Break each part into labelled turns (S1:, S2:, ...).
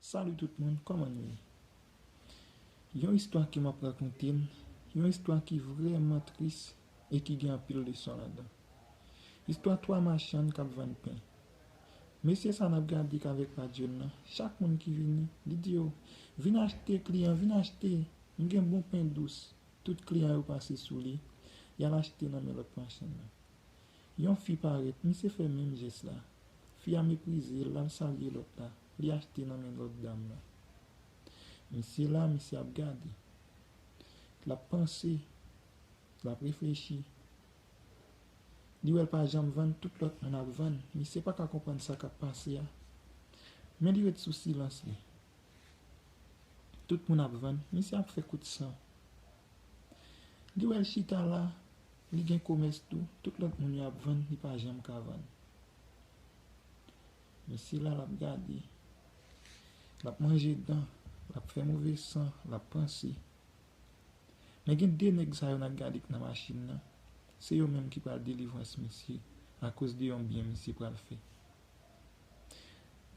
S1: Salut tout moun koman nou ye yon istwa ke map rakonte yon istwa ki vreman tris e ki gen anpil leson ladan istwa 3 machann kap vann pen mesye sa nap gade kavek padyol lan chak moun ki vini li di yo vin achte kliyan vin achte m gen bon pen dous tout kliyan yo pase sou li yal achte nan men lòt machann nan Yon fi parèt, misye fè menm jès la. Fi a meprize l, l al salye lòt la, li achte nan men lòt dam lan. Misye la, misye ap gade. L ap panse, l ap reflechi. Li wè l pa janm vann, tout lòt moun ap vann. Misye pa ka konprann sa k ap pase a. Men li ret sou silans li. Tout moun ap vann, misye ap fè kout san. Li wè l chita la, Li gen komès tou, tout lòt moun yo ap vann li pa janm ka vann. Mesye la lap gade, lap manje dan, lap fè move san, lap panse. Men gen 2 nèg sa yo nap gade k nan machin nan, se yo menm ki pral delivrans misye akoz de yon byen misye pral fè.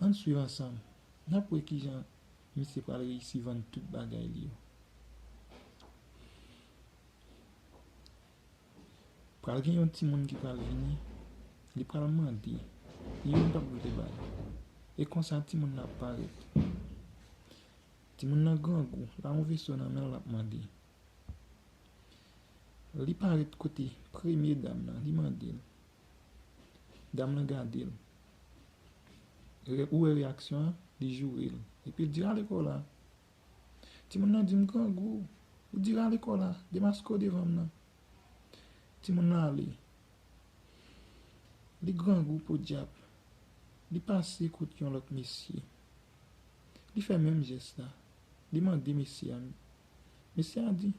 S1: Ann swiv ansanm, nap wè kijan misye pral reyisi vann tout bagay li yo. Pral gen yon ti moun ki pral vini, li pral mande, li menm pap vle bay. E konsa ti moun nan ap parèt. Ti moun nan grangou, la yon veso nan men l lap mande. Li parèt kote premye dam nan, li mande l. Dam nan gade l. Ou wè reyaksyon an, li joure l. Epi l di ale kò w la. Timoun nan di m, Grangou, ou di rale kò w la, demaske w devan m nan. Timoun nan ale. Li grangou podyab. Li pase kot yon lòt mesye. Li fè menm jès la. Li mande mesye a. Mesye a di,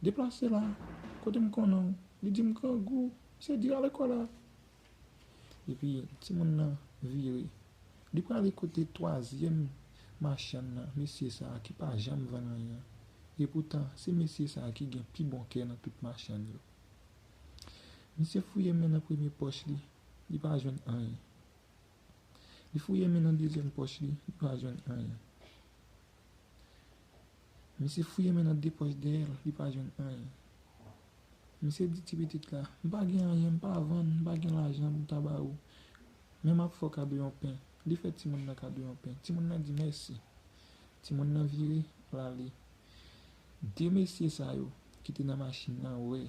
S1: Deplase la, kote m konnen w. Li di m, Grangou, se di rale kò w la. Epi timoun nan vire. Li prale kote twazyèm machann nan, mesye sa a ki pa janm vann anyen an. Epoutan, se mesye sa a ki gen pi bon kè nan tout machann yo. Misye fouye men nan premye pòch li, li pa jwenn anyen. Li fouye men nan dezyèm pòch li, li pa jwenn anyen. Misye fouye men nan 2 pòch dèyè l, li pa jwenn anyen. Misye di ti pitit la, M pa gen anyen, m pa vann, m pa gen lajan pou m ta ba ou. Men m ap fè w kado yon pen. Li fè timoun nan kado yon pen. Timoun nan di mèsi. Timoun nan vire, l ale. 2 mesye sa yo ki te nan machin nan wè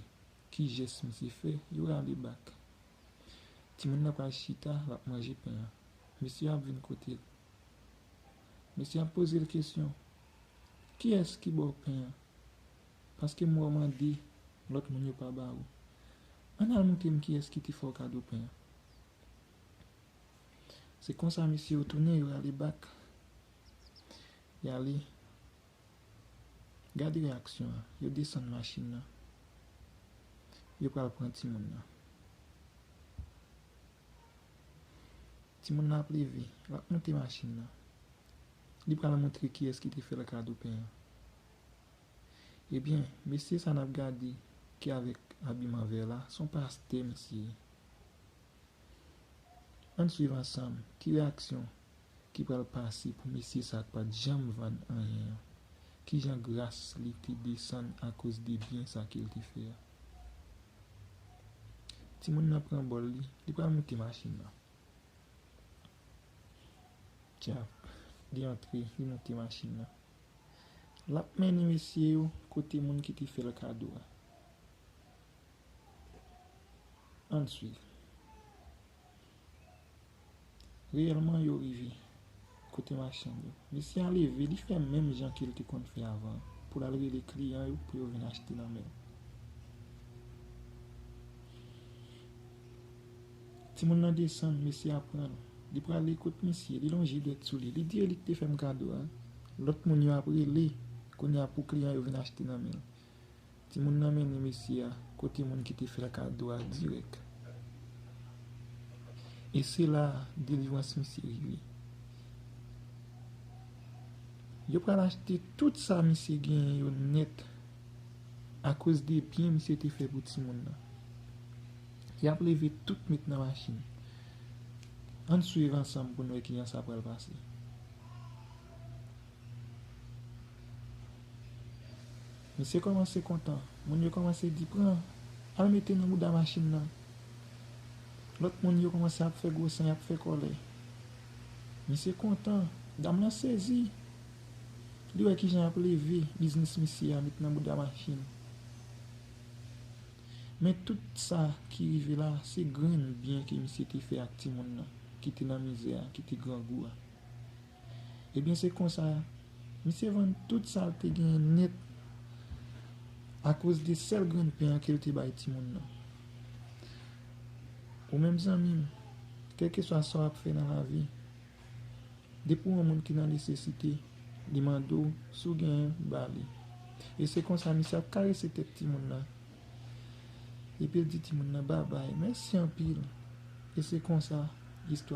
S1: ki jès misye fè, yo rale bak. Timoun nan pral chita, l ap manje pen an. Mesye an ap vin kote l. Mesye an ap poze l kesyon, Kiyès ki ba w pen an? Paske m wè w mande, lòt moun yo pa ba ou. Ann al montre m kiyès ki te fè w kado pen an. Se konsa mesye yo tounen, yo rale bak. Y ale. Gad reyaksyon an. Yo desann machin nan. Yo pral pran timoun nan. Timoun nan ap leve. L ap monte machin nan. Li pral montre kiyès ki te fè l kado pen an. Ebyen, mesye sa n ap gade ki avèk abiman vè la, s on pastè misye ye. Ann suiv ansanm ki reyaksyon ki pral pase pou mesye sa a k pa t janm vann anyen an. Ki jan gras li te desann akoz de byen sa ke l te fè a. Timoun nan pran bòl li, li pral moute machin nan. Djab. Li antre, li monte machin nan. L ap mennen mesye yo kote moun ki te fè l kado a. An n suiv. Reyèlman, yo rive kote machann yo. Mesye a leve, li fè menm jan ke l te konn fè avan an, pou l al rele kliyan yo pou yo vin achte nan men l. Timoun nan desann, mesye a pran l. Li prale kot misye, li lonje dwèt sou li, li di yo li k te fè m kado a. Lòt moun yo ap rele kounye a pou kliyan yo vin achte nan men l. Timoun nan mennen mesye a kote moun ki te fè l kado a dirèk. E se la a delivrans misye rive. Yo pral achte tout sa misye genyen yo nèt akoz de byen misye te fè pou timoun nan. Yap leve tout met nan machin. Ann swiv ansanm pou n wè kijan sa pral pase. Misye kòmanse kontan. Moun yo kòmanse di pran. Al mete nan bouda machin nan. Lòt moun yo kòmanse ap fè gwo san yap fè kòlè. Misye kontan. Dam lan sezi. Li wè kijan yap leve biznis misye a met nan bouda machin. Men tout sa ki rive la se grenn byen ke misye te fè ak timoun nan ki te nan mizè a, ki te grangou a. Ebyen se konsa misye vann tout sa l te genyen nèt akoz de sèl grenn pen an ke l te bay timoun nan. Ou menm zanmi m, kèlkeswa sa w ap fè nan lavi. Depi w yon moun ki nan nesesite, li mande w si w genyen, ba li. E se konsa misye ap karese tèt timoun nan. Epi l di timoun nan babay, mèsi anpil. E se konsa istwa.